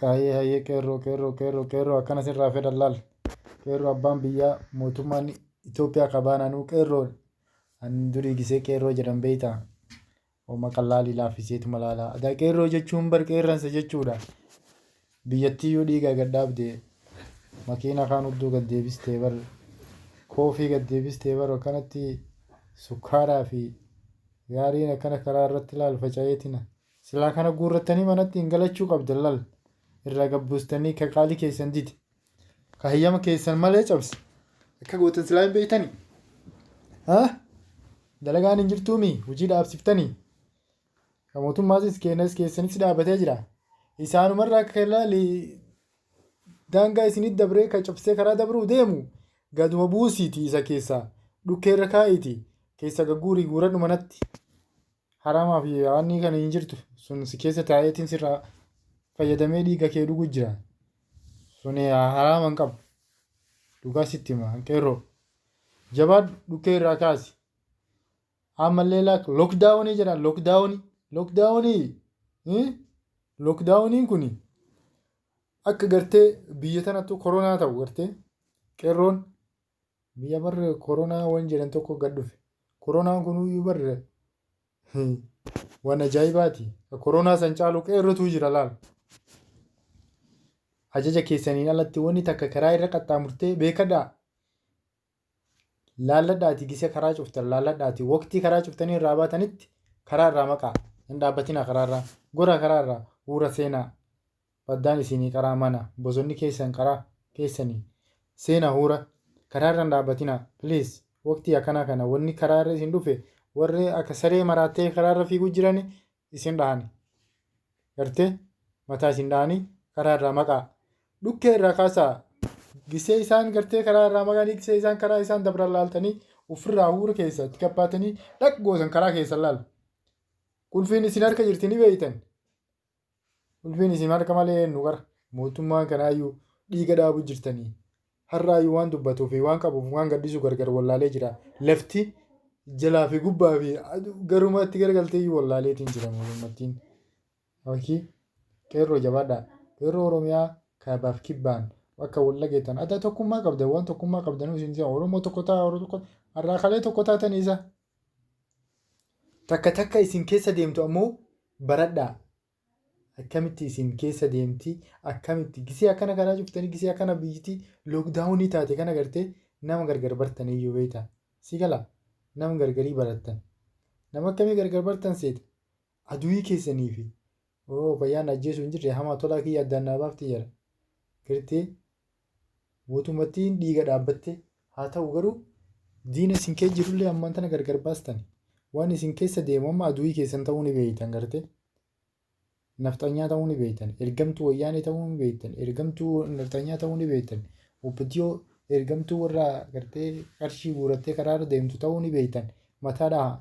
Hayyee hayyee qeerroo qeerroo qeerroo qeerroo akkana sirraa fedhan laal qeerroo abbaan biyyaa mootummaan Itoophiyaa qabaan anuu qeerroo an durii gisee qeerroo jedhan beektaa hooma qallaalii laaffiseetuma laalaa adaa qeerroo jechuun bar qeerransa jechuudha biyyattii yoo dhiigaa gad dhaabde makiina kaan hudduu gad deebistee bar koofii gad deebistee bar akkanatti sukkaaraa fi gaariin akkana karaa irratti laal faca'eetina Silaa kana guurrattanii manatti hin galachuu qabdan lal irraa gad buustanii ka qaalii keessan dide ka hayyama keessan malee cabse akka gootan silaa hin beektanii haa dalagaan hin jirtuumi hojii dhaabsiftanii ka mootummaatis keenyas keessanitti dhaabatee jira isaanumarraa akka laali daangaa isinitti dabree ka cabsee karaa dabruu deemu gaduma buusiiti isa keessaa dhukkeerra kaa'iiti keessa gagguurii guuradhu manatti. Haraamaa fi yaanni kan hin jirtu sun si keessa taa'eetiin sirraa fayyadamee dhiiga kee dhugu jira. Sun haraama hin qabu. Dhugaa sitti hima qeerroo. Jabaadhu dhukkee irraa kaasi. Ammallee laak lookdaawunii jedhan lookdaawunii. Lookdaawunii lookdaawuniin kun akka gartee biyya tanattu koronaa ta'u gartee qeerroon Biyya bar koronaa wan jedhan tokko gad dhufe. Koronaan kunuyyuu bar wan ajaa'ibaati. Ka koronaa san caalu qeerrotuu jira laal. Ajaja keessaniin alatti wanni takka karaa irra qaxxaamurtee beekadhaa. Laalladhaati gisa karaa cuftan laalladhaati waqtii karaa cuftanii irraa baatanitti karaa irraa maqaa hin dhaabbatinaa karaa irraa gora karaa irraa uura seenaa. baddaan isiinii qaraa mana bosonni keessan qaraa keessani seena huura karaa irra hin dhaabbatina please waqtii akkanaa kana wanni karaa irra isin dhufe warri akka saree maraattee karaa irra fiiguu jirani isin dhahani garte mataa isin dhahani karaa irraa maqaa dhukkee irraa kaasaa gisee isaan gartee karaa irraa maqanii gisee isaan karaa isaan dabran laaltanii ofirraa huura keessa itti gabbaatanii dhaq goosan karaa keessan laal qulfiin isin harka jirti ni beeytan Ulfiin isin harka malee eennu qara? Mootummaan kanaayyuu dhiiga dhaabu jirtanii. Har'aayyuu waan dubbatuu fi waan qabuuf waan gadhiisu gargar wallaalee jira. Lafti jalaa fi gubbaa fi garumaa itti garagalteeyyuu wallaaleetiin jira mootummattiin. Abakii qeerroo jabaadhaa. Qeerroo Oromiyaa kaabaaf kibbaan akka wal dhageettan adda tokkummaa qabdan waan tokkummaa qabdanuu isin Oromoo tokko ta'a Oromoo tokko har'aa kalee tokko taatanii isa Takka takka isin keessa deemtu ammoo baradhaa. Akkamitti isin keessa deemti akkamitti gisee akkana karaa cuftanii gisee akkana biyyiti lookdaawunii taate kana gartee nama gargar bartan iyyuu beekta. Si gala nama gargarii barattan. Nama akkamii gargar bartan seeta. Aduwii keessanii fi oo fayyaan ajjeesuu hin jirre hamaa tolaa kiyya addaan naa baafti jedha. Gartee Guutummattiin dhiiga dhaabbatte. Haa ta'u garuu diina isin keessa jirullee ammaan tana gargar baastani. Waan isin keessa deemu amma aduwii keessan ta'uu ni beektan gartee. Nafxanyaa ta'uu ni beektan. Ergamtuu wayyaanee ta'uu ni beektan. Ergamtuu nafxanyaa ta'uu ni beektan. Opdo ergamtuu warra gartee qarshii guurattee karaarra deemtu ta'uu ni beektan. Mataa dhahaa.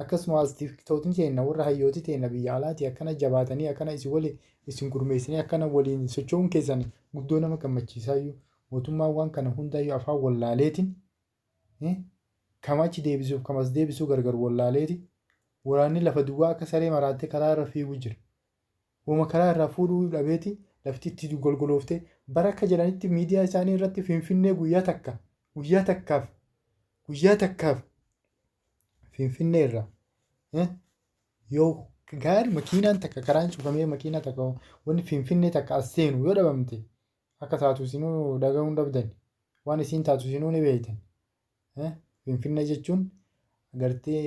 Akkasumaas tiktootni teenna warra hayyooti teenna biyya alaati akkana jabaatanii akkana isin wali isin gurmeessanii akkana waliin socho'uun keessan guddoo nama gammachiisaayyuu mootummaan waan kana hundaayyuu afaan wallaaleetiin eh, kam achi deebisuuf kam as deebisuu gargar wallaaleeti waraanni lafa duwwaa akka saree maraattee karaa irra fiigu jira Woma karaa irraa fuudhuu dhabeeti lafti itti golgoloofte. Bar akka jedhanitti miidiyaa isaanii irratti Finfinnee guyyaa takka, guyyaa takkaaf, guyyaa takkaaf Finfinnee irra eh, yoo gaari makiinaan takka karaan cufamee makiinaa takka wanni Finfinnee takka as seenu yoo dhabamte akka taatu isinuu dhaga'uun dhabdan waan isiin taatu isinuu ni beeytan. Finfinnee jechuun agartee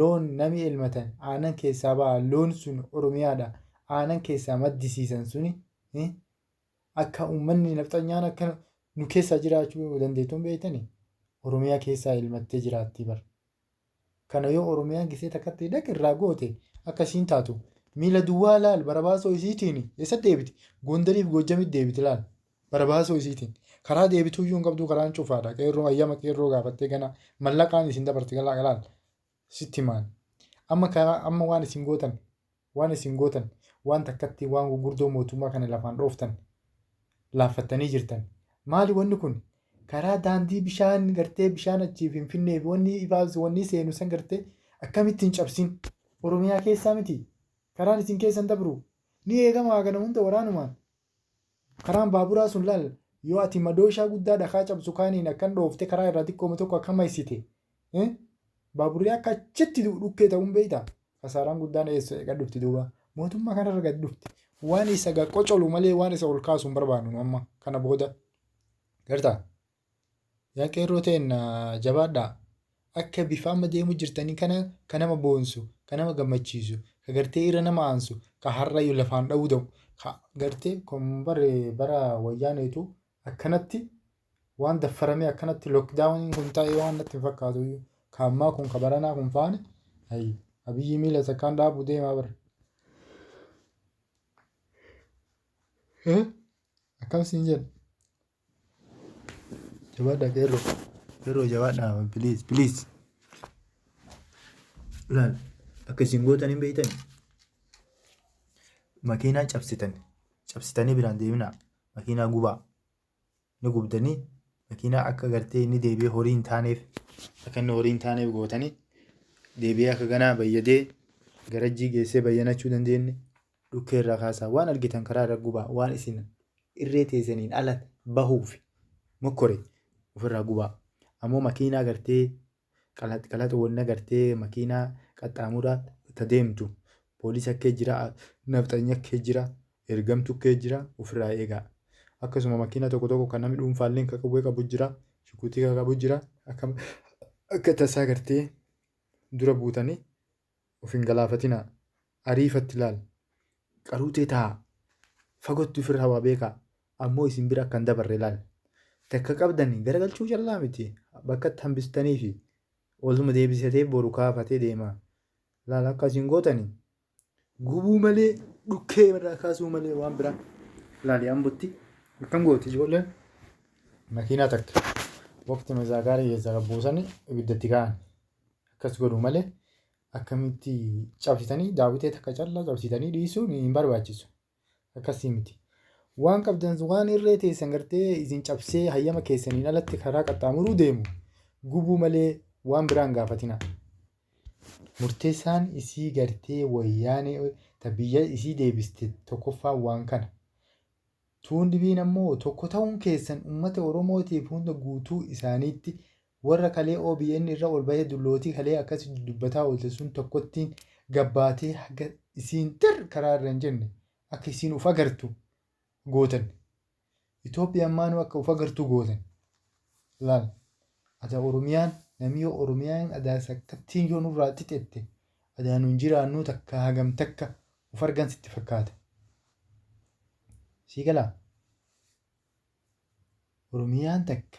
loon namni elmatan aanan keessaa ba'a loon sun oromiyaadha aanan keessaa maddisiisan suni akka uummanni nafxanyaan akka nu keessaa jiraachuu dandeettuun beektani oromiyaa keessaa elmattee jiraattii bar. Kana yoo Oromiyaan gisee takkatti dhaq irraa goote akka ishiin taatu miila duwwaa laal barabaasoo isiitiin eessatti deebiti? Gondarii fi Goojjamitti deebiti laal barabaasoo isiitiin. Karaa deebituu iyyuu hin qabduu karaan cufaadha qeerroo ayyama qeerroo gaafattee gana mallaqaan isin dabarti galaa laal sitti himaan. Amma karaa amma waan isin gootan Waan isin gootan, waan takkatti waan gurgurdoo mootummaa kana lafaan dhooftan, laaffattanii jirtan. Maali wanni kun? Karaa daandii bishaan gartee bishaan achii Finfinnee fi wanni ifaa wanni seenu san gartee akkamitti hin cabsin? Oromiyaa keessaa miti? Karaan isin keessan dabru ni eegama hagana hunda waraanumaan. Karaan baaburaa sun laal, yoo ati madooshaa guddaa dhakaa cabsu kaaniin akkan dhooftee karaa irraa xiqqooma tokko akka maysite, eh, baaburri akka achitti du'u dhukkee ta'uun beeyta? Kasaaraan guddaan eessa eega dhufti duuba? Mootummaa kanarra gad dhufti. Waan isa ga qocolu malee waan isa ol kaasu hin barbaannu nu amma kana booda. Garta? Yaa qeerroo teenna jabaadhaa. Akka bifa amma deemu jirtanii kana ka nama boonsu, ka nama gammachiisu, ka gartee irra nama aansu, ka har'ayyuu lafaan dha'uu da'u, ka gartee kun bare bara wayyaaneetu akkanatti waan daffaramee akkanatti lookdaawuniin kun ta'ee waan natti hin fakkaatu iyyuu. Ka ammaa kun ka baranaa kun faani ayi abiyyii miila takkaan dhaabuu deemaa bara. Akkam siin jedha. Jabaadhaa qeerroo. Qeerroo jabaadhaa please please. Laal akka isin gootan hin beektan. Makiinaa cabsitan cabsitanii biraan deeminaa makiinaa gubaa ni gubdanii makiinaa akka gartee inni deebi'ee horii hin taaneef akka inni horii hin taaneef gootanii deebi'ee akka ganaa bayyadee garajjii geessee bayyanachuu dandeenye Dhukkee irraa kaasaa, waan argitan karaa irra gubaa, waan isin irree teessaniin ala bahuuf mokkore ofirraa gubaa. Ammoo makiinaa gartee qalax qalax wanna gartee makiinaa qaxxaamuraa ta deemtu poolisa akkee jira, nafxanya akkee jira, ergamtu akkee jira ofirraa eegaa. Akkasuma makiinaa tokko tokko kan namni dhuunfaalleen ka qawwee qabu jira, shukuutii ka qabu jira, akka akka tasaa gartee dura buutanii of hin galaafatinaa ariifatti laal qaruu tee taa fagotti ufirraa waa beekaa ammoo isin bira akka hin dabarre laal takka qabdani garagalchuu callaa miti bakkatti hambistaniifi oluma deebisatee boru kaafatee deema laal akka isin gootani gubuu malee dhukkee irraa kaasuu malee waan biraa laali ambotti akkam gooti ijoolleen makiinaa takka waqti mazaa gaarii keessaa qabbuusani ibiddatti ka'an. Akkas godhu malee akkamitti cabsitanii daawwitee takka callaa cabsitanii dhiisuun hin barbaachisu. Akkasii miti. Waan qabdan waan irree teessan gartee isin cabsee hayyama keessaniin alatti karaa qaxxaamuruu deemu gubuu malee waan biraan gaafatina. Murteessaan isii gartee wayyaanee ta biyya isii deebiste tokkoffaan waan kana. Tuun dhibiin ammoo tokko ta'uun keessan uummata Oromootiif hunda guutuu isaaniitti Warra kalee obn irra ol bahee dullootii kalee akkasi dudubbataa oolte sun tokkottiin gabbaatee haga isiin tirr karaa irra hin jenne akka isiin uf agartu gootan. Ethiopian maanu akka uf agartu gootan. Laal. Adaa Oromiyaan namii yoo Oromiyaan adaa sakkattiin yoo nurraa xixette adaa nun jiraannuu takka hagam takka uf argan sitti fakkaata. Sii galaa? Oromiyaan takka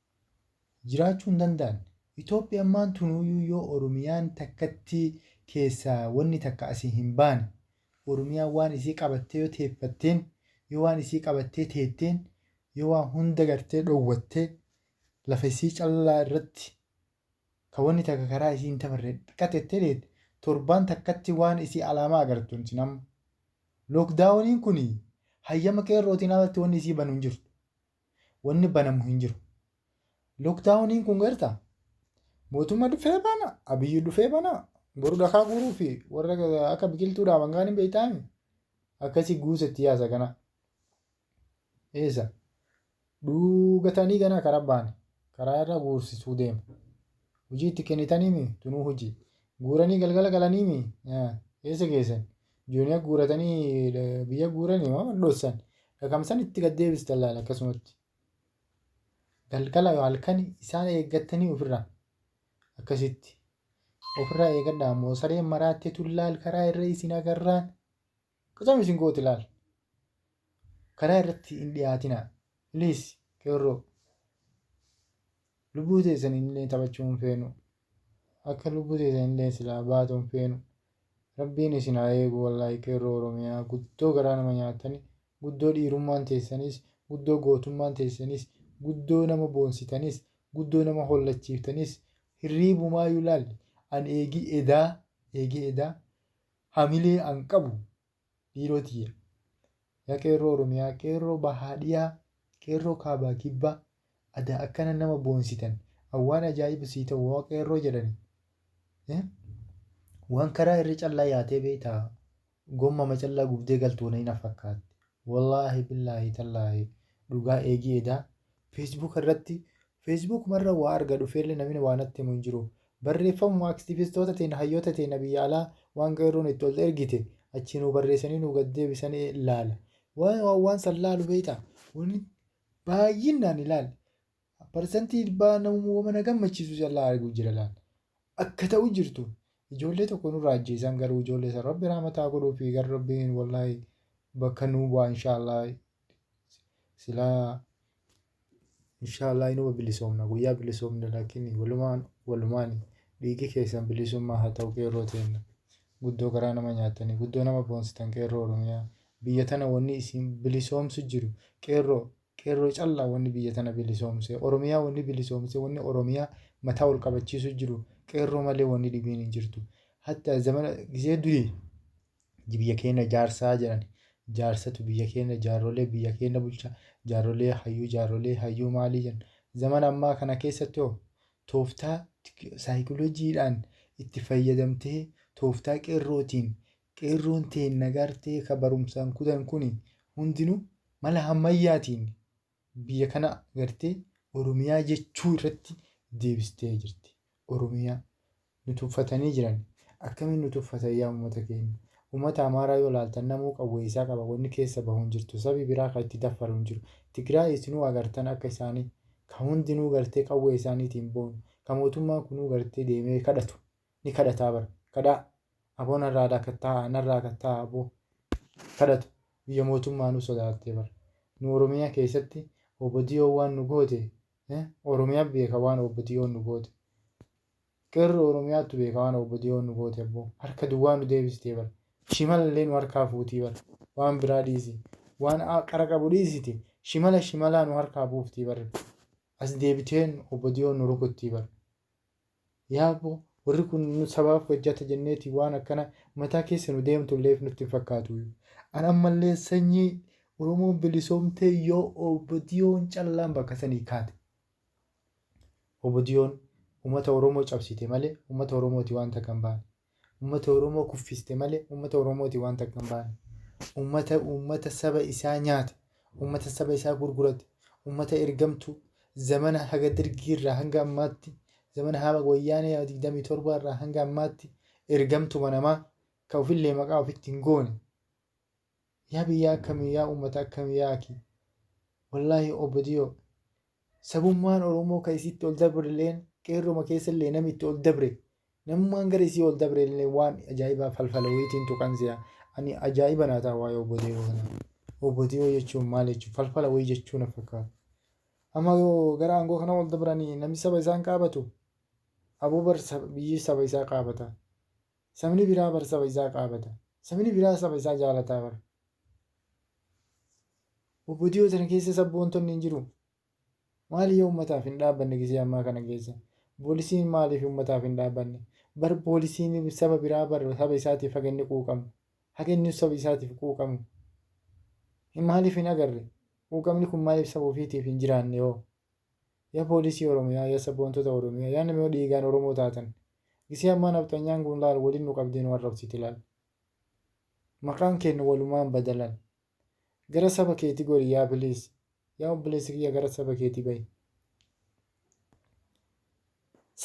jiraachuu hin danda'an. Itoophiya ammaan tunuuyuu yoo Oromiyaan takkatti keessaa wanni takka asii hin baane, Oromiyaan waan isii qabattee yoo teeffatteen, yoo waan isii qabattee teetteen, yoo waan hunda gartee dhowwattee lafa isii callaa irratti ka wanni takka karaa isii hin tafarre qaxettee teette, torbaan takkatti waan isii alaamaa agartuun isin amma. Lookdaawoniin kun hayyama qeerrootiin alatti wanni isii banu hin jirtu. Wanni banamu hin jiru. Lookdaawuniin kun garta mootumma dhufee bana abiyyi dhufee bana boru dhakaa guuruu fi warra akka biqiltuu dhaaban kaan hin beektaami akkasii guusa itti yaasa kana. Eessa? Dhuugatanii ganaa karaa baane karaa irra guursisuu deema. Hojii itti kennitanii mi tunuu hojii. Guuranii galgala galanii mi eessa geessan? Jooniya guuratanii biyya guuranii moo dhoossan dhakamsan itti gad deebistan laala akkasumatti. Galgala halkan isaan eeggattanii ofirraa akkasitti ofirraa eegadhaa ammoo sareen maraattee tullaal karaa irra isin agarraan qacam isin gooti laal. karaa irratti hin dhiyaatina please qeerroo lubbuu teessan illee taphachuu hin feenu akka lubbuu teessan illee silaa baatu hin feenu rabbiin isin haa eegu wallaahi qeerroo oromiyaa guddoo garaa nama nyaatani guddoo dhiirummaan teessanis guddoo gootummaan teessanis guddoo nama boonsitanis guddoo nama hollachiiftanis hirriibumaa yulaalli an eegii edaa eegii edaa hamilee an qabu dhiiroo tiyya. Yaa qeerroo Oromiyaa, qeerroo bahaa dhiyaa, qeerroo kaabaa kibbaa, adaa akkana nama boonsitan, an waan ajaa'iba sii ta'u hoo qeerroo jedhani waan karaa irra callaa yaatee beektaa gommama callaa gubdee galtuu na hin fakkaatti. Wallaahi billaahi tallaahi dhugaa eegii edaa Facebook irratti Facebook marra waa arga dhufeelle namini waa natti himu hin jiru. Barreeffamuma aktivistoota teenna hayyoota teenna biyya alaa waan qeerroon itti ol ergite achii nuu barreessanii nuu gad deebisani laala. Waan waan waan san laalu beeyta wanni baayyinnaan ilaal parsantii dhibbaa namuma wama na gammachiisu callaa argu jira laal. Akka ta'u jirtu ijoollee tokko nurraa ajjeesan garuu ijoollee san rabbi rahmata haa godhuufi gar rabbiin wallahi bakka nuu bu'a inshaa Allah. silaa inshaallah inuma bilisoomna guyyaa bilisoomne laakiin walumaan walumaan dhiigi keessan bilisummaa haa ta'u qeerroo teenna guddoo garaa nama nyaatanii guddoo nama boonsitan qeerroo oromiyaa biyya tana wanni isin bilisoomsu jiru qeerroo qeerroo callaa wanni biyya tana bilisoomse oromiyaa wanni bilisoomse wanni oromiyaa mataa ol qabachiisu jiru qeerroo malee wanni dhibiin hin jirtu hatta zamana gizee durii biyya keenya ijaarsaa jedhan jaarsatu biyya keenya jaarrolee biyya keenya bulchaa jaarrolee hayyuu jaarrolee hayyuu maalii jenna zamana ammaa kana keessatti hoo tooftaa saayikolojiidhaan itti fayyadamtee tooftaa qeerrootiin qeerroon teenna gartee ka barumsaan kutan kun hundinuu mala hammayyaatiin Biyya kana agartee Oromiyaa jechuu irratti deebistee jirti. Oromiyaa nu tuffatanii jiran. Akkamiin nu tuffatan yaa uummata keenya? Uummata Amaaraa yoo ilaaltan namuu qawwee isaa qaba wanni keessa bahu hin jirtu. Sabi biraa ka itti daffaru hin jiru. Tigraay isinuu agartan akka isaanii ka hundinuu gartee qawwee isaaniitiin boonu. Ka mootummaan kunuu gartee deemee kadhatu. Ni kadhataa bar. Kadhaa! Aboo narraa dakattaa'a narraa kattaa'a aboo. kadhatu biyya mootummaanuu sodaattee bar nu oromiya keessatti opdo waan nu goote oromiya beeka waan opdo nu goote qeerroo oromiyaattu beeka waan opdo nu goote abboo harka duwwaa nu deebistee bar shimalallee nu harkaa fuutii bar waan biraa dhiisi waan qara qabu dhiisiti shimala shimalaa nu harkaa buuftii bar as deebiteen opdo nu rukuttii bar Yaaboo warri kun nu sabaaf hojjata jenneeti waan akkana mataa keessa nu deemtulleef nutti hin fakkaatu. An ammallee sanyii Oromoon bilisoomtee yoo OPDOn callaan bakka sanii kaate. OPDOn ummata Oromoo cabsite malee ummata Oromooti waan takka hin baane. Uummata Oromoo kuffiste malee uummata Oromooti waan takka hin baane. Uummata uummata saba isaa nyaate, uummata saba isaa gurgurate, uummata ergamtuu zamana haga Dargii irraa hanga ammaatti, zamana haga Wayyaanee 27 irraa hanga ammaatti ergamtuma namaa ka ofillee maqaa ofitti hin goone Yaa biyyaa akkami yaa ummata akkami yaa akii wallahi obdiyoo sabummaan oromoo ka isitti ol dabrleen qeerroma keessallee nami itti ol dabre namummaan gara isii ol dabrellee waan ajaa'ibaa falfala wayitiin tuqan si'a ani ajaa'iba naa ta'a waa'ee obdiyoo kana obdiyoo jechuun maal jechuun falfala wayii jechuun na fakkaata amma yoo gara aangoo kana ol dabranii nami saba isaan qaabatu aboo bar biyyi saba isaa qaabata Sabni biraa bar saba isaa qaabata. Sabni biraa saba isaa jaalataa bar. Wbo dhiyoo tana keessa sabboontonni hin jiruu? Maali yoo ummataaf hin dhaabbanne gisee ammaa kana keessa? Poolisiin maaliif ummataaf hin dhaabbanne? Bar poolisiin saba biraa bar saba isaatiif haga inni quuqamu. Haga inni saba isaatiif quuqamu. Maaliif hin agarre? Quuqamni kun maaliif saba ofiitiif hin jiraanne hoo? Ya polisii oromiyaa ya saboontota oromiyaa ya nama dhiigaan oromoo taatan gisee ammaa nafxanyaan kun laal waliin nu qabdee nu arrabsiti laal maqaan keenna walumaan bada laal gara saba keeti gori ya please ya obboleessa kiyya gara saba keeti bahi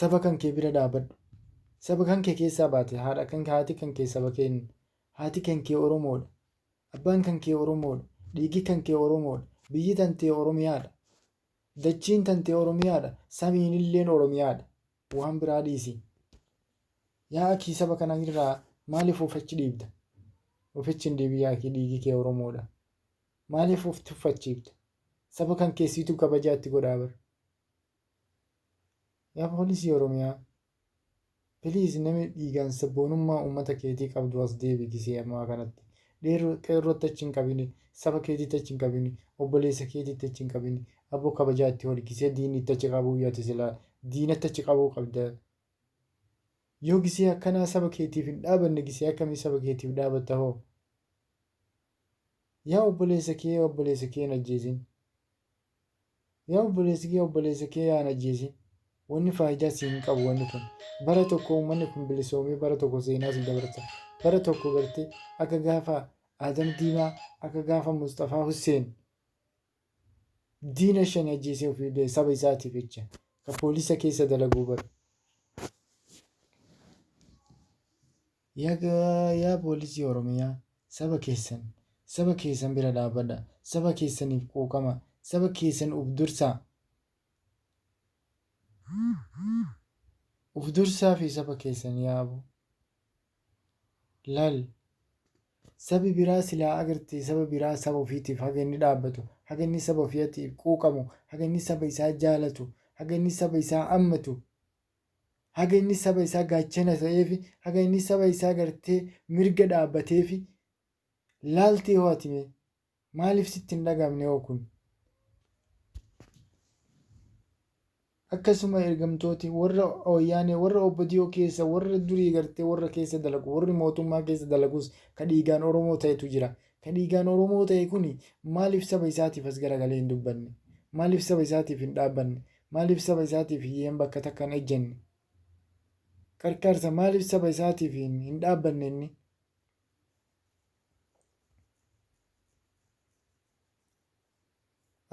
saba kan kee bira dhaabadhu saba kan kee keessaa baate haadha kan haati kan kee saba keen haati kan kee oromoodha Abbaan kan kee Oromoodha. Dhiigi kan kee Oromoodha. Biyyi tantee Oromiyaadha. Dachiin tantee Oromiyaadha. Samiinilleen Oromiyaadha. Waan biraa dhiisi. Yaa akii saba kana irraa maaliif of achi dhiibda? Of achi hin dhiibin yaa akii dhiigi kee Oromoodha. Maaliif of tuffachiifta? Saba kan kee siitu kabajaa itti godhaa bar. Yaa poolisii oromiyaa please nami dhiigaan sabboonummaa uummata keetii qabdu as deebi gisee ammaa kanatti dheerroo qeerrootti achi hin qabini saba keetitti achi hin qabini obboleessa keetitti achi hin qabini abboo kabajaa itti hori gisee diinni itti achi qabuuyyu ati silaa diinatti achi qabuu qabda yoo gisee akkanaa saba keetiif hin dhaabanne gisee akkamii saba keetiif dhaabatta hoo yaa obboleessa kee obboleessa kee hin ajjeesin Yaa obboleessa kiyya obboleessa kee yaa hin ajjeesin. Wanni faayidaa sii hin qabu wanni kun. Bara tokko ummanni kun bilisoomee bara tokko seenaa sii dabarsa. Bara tokko gartee akka gaafa Aadam Diimaa akka gaafa Musxafaa Husseen diina shan ajjeesee ofii bee saba isaatiif jecha ka poolisa keessa dalaguu bar. Yaga yaa poolisii oromiyaa saba keessan saba keessan bira dhaabadha saba keessaniif quuqama saba keessan uf dursaa uf dursaafi saba keessan yaa abo lal sabi biraa silaa agarte saba biraa saba ofiitiif haga inni dhaabbatu haga inni saba ofiatiif quuqamu haga inni saba isaa jaalatu haga inni saba isaa ammatu haga inni saba isaa gaachana ta'eefi haga inni saba isaa gartee mirga dhaabbateefi laaltee hoo ati mee maaliif sitti hin dhagaamne hoo kun akkasuma ergamtooti warra wayyaanee warra obbodiyoo keessa warra durii gartee warra keessa dalagu warri mootummaa keessa dalagus ka dhiigaan oromoo ta'etu jira ka dhiigaan oromoo ta'e kun maaliif saba isaatiif as garagalee hin dubbanne maaliif saba isaatiif hin dhaabbanne Maaliif saba isaatiif hiyyeen bakka takka hin ejjanne? Qarqaarsa maaliif saba isaatiif hin hin dhaabbanne inni?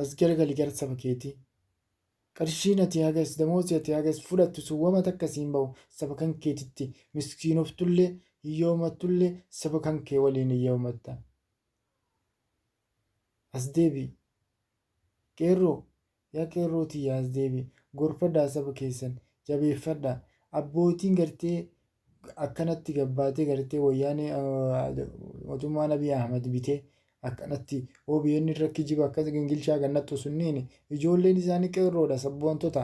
As garagali gara saba keetii. Qarshiin ati hagas damoozi ati hagas fudhattu sun wama takka siin bahu saba kan keetitti miskiinoftullee hiyyoomattullee saba kan kee waliin hiyyoomatta. As deebi'i! Qeerroo! Yaa qeerroo tiyya as deebi'i! Gorfadhaa saba keessan! Jabeeffadhaa! Abbootiin gartee akkanatti gabbaatee gartee wayyaanee mootummaan Abiy Ahmad bitee akkanatti OBN irra kijiba akkas gingilchaa kan nattu sunniin ijoolleen isaanii qeerroodha sabboontota.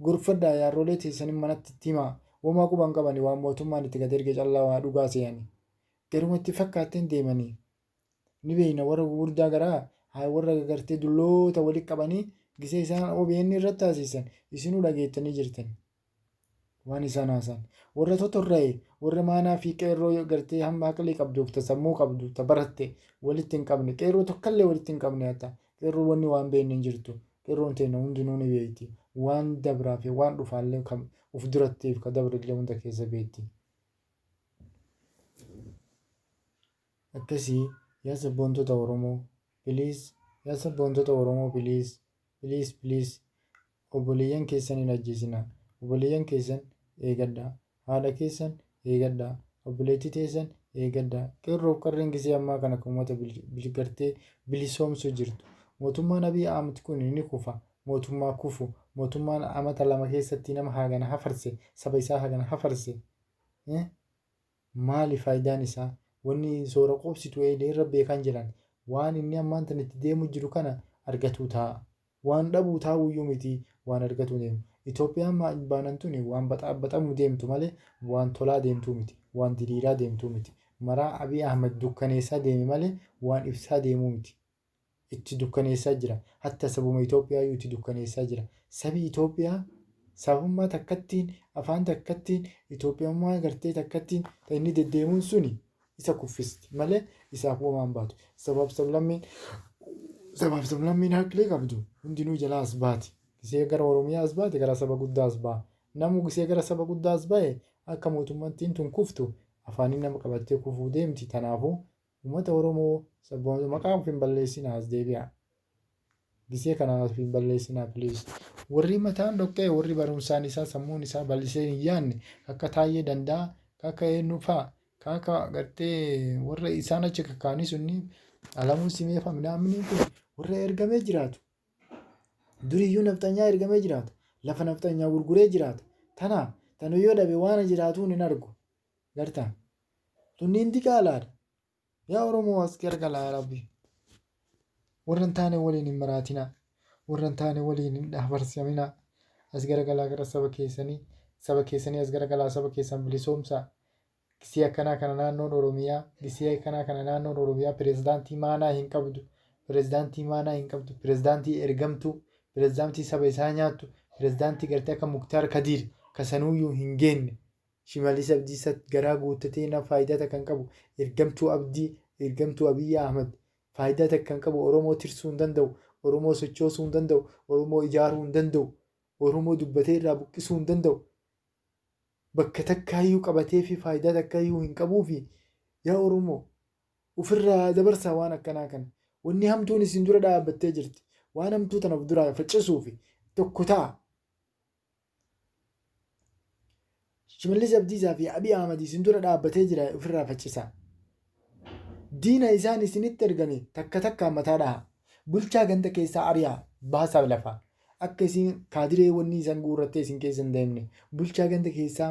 Gorfadhaa yaarrolee teessan manatti itti himaa. Womaa quban qabani waan mootummaan itti gad erge callaa waa dhugaa seeyani. Garuma itti fakkaatteen deemanii. ni beekna warra gugurdaa garaa haa warra gartee dulloota walitti qabanii gisee isaan OBN irratti haasissan isinuu dhageettanii jirtan waan isaan haasaan warra totorra'e warra maanaa fi qeerroo gartee hamma haqlii qabduuf ta sammuu qabdu ta baratte walitti hin qabne qeerroo tokkallee walitti hin qabne hatta qeerroo wanni waan beekne hin jirtu qeerroon teenna hundinuu ni beekti waan dabraa fi waan dhufaallee kan uf durattiif ka dabrillee hunda keessa beekti. Akkasi yaa sabboontota oromoo please yaa sabboontota oromoo please please please obboleeyyan keessan hin ajjeesina obboleeyyan keessan eegadha haadha keessan eegadha obboleettii teessan eegadha qeerroof qarreen gisee ammaa kana kan ummata bilgartee bilisoomsu jirtu mootummaan abiy ahmed kun ni kufa mootummaa kufu mootummaan amata lama keessatti nama haagana hafarse saba isaa hagana hafarse Maali faayidaan isaa? Wanni soora quubsitu eeylee irra beekaan jiran. Waan inni ammaan tana itti deemuu jiru kana argatuu taa'a. Waan dhabuu taa'uuyyuu miti waan argatuu deemu. Itoophiyaan maal baanan tuni waan baxaabaxamuu deemtu malee waan tolaa deemtuu miti. Waan diriiraa deemtuu miti. Maraa Abiy Ahmed dukkaneessaa deeme malee waan ifsaa deemuu miti. itti dukkaneessaa jira. Hatta sabuma Itoophiyaayyuu itti dukkaneessaa jira. Sabi Itoophiyaa sabummaa takkattiin, afaan takkattiin, Itoophiyummaa gartee takkattiin ta inni deddeemuun suni isa kuffisti malee isaaf womaa hin baatu. Sabaaf sablammiin sabaaf sablammiin haqli qabdu hundinuu jalaa as baati. Gisee gara Oromiyaa as baate gara saba guddaa as ba'a. Namuu gisee gara saba guddaa as ba'e akka mootummattiin tun kuftu afaaniin nama qabattee kufuu deemti. Tanaafuu Ummata Oromoo sabboonota maqaa of hin balleessinaa as deebi'aa. Gisee kanaan of hin balleessinaa please. Warri mataan dhoqqee warri barumsaan isaa sammuun isaa bal'isee hin yaanne ka akka Taayyee Danda'a ka akka eennu fa'a ka akka gartee warra isaan achi kakkaa'anii sunni Alamuu Simee fa'a minaaminiin kun warra ergamee jiraatu. Duriyyuu nafxanyaa ergamee jiraatu. Lafa nafxanyaa gurguree jiraatu. Tana tanu yoo dhabe waan jiraatuu hin argu. Gartaan. Tunniin diqaalaadha. Yaa Oromoo as gargalaa yaa Rabbi. Warra hin taane waliin hin maraatinaa. Warra hin taane waliin hin dhaabarsaminaa. As garagalaa gara saba keessanii. Saba keessanii as garagalaa saba keessan bilisoomsaa. Gisee akkanaa kana naannoon Oromiyaa, gisee akkanaa kana naannoon Oromiyaa pirezidaantii maanaa hin qabdu. Pirezidaantii maanaa hin qabdu. Pirezidaantii ergamtuu, pirezidaantii saba isaa nyaattu, pirezidaantii gartee akka Muktaar Kadiir kasanuuyyuu hin geenne. Shimallis Abdiissa garaa guuttatee nam faayidaa takka hin qabu, ergamtuu Abdii, ergamtuu Abiy Ahmed, faayidaa takka hin qabu, Oromoo tirsuu hin danda'u, Oromoo sochoosuu hin danda'u, Oromoo ijaaruu hin danda'u, Oromoo dubbatee irraa buqqisuu hin danda'u, bakka takkaayyuu qabateefii faayidaa takkaayyuu hin qabuufi yaa Oromoo ufirraa dabarsaa waan akkanaa kana. Wanni hamtuun isin dura dhaabbattee jirti. Waan hamtuu tana of duraa faccisuufi tokko ta'a. Shimallis Abdiisaa fi Abiy Ahmad isin dura dhaabbatee jira ofirraa faccisaa. Diina isaan isinitti ergame takka takkaan mataa dhahaa. Bulchaa ganda keessaa ari'aa baasaa lafaa. Akka isin kaadiree wanni isan guurrattee isin keessa hin deemne. Bulchaa ganda keessaa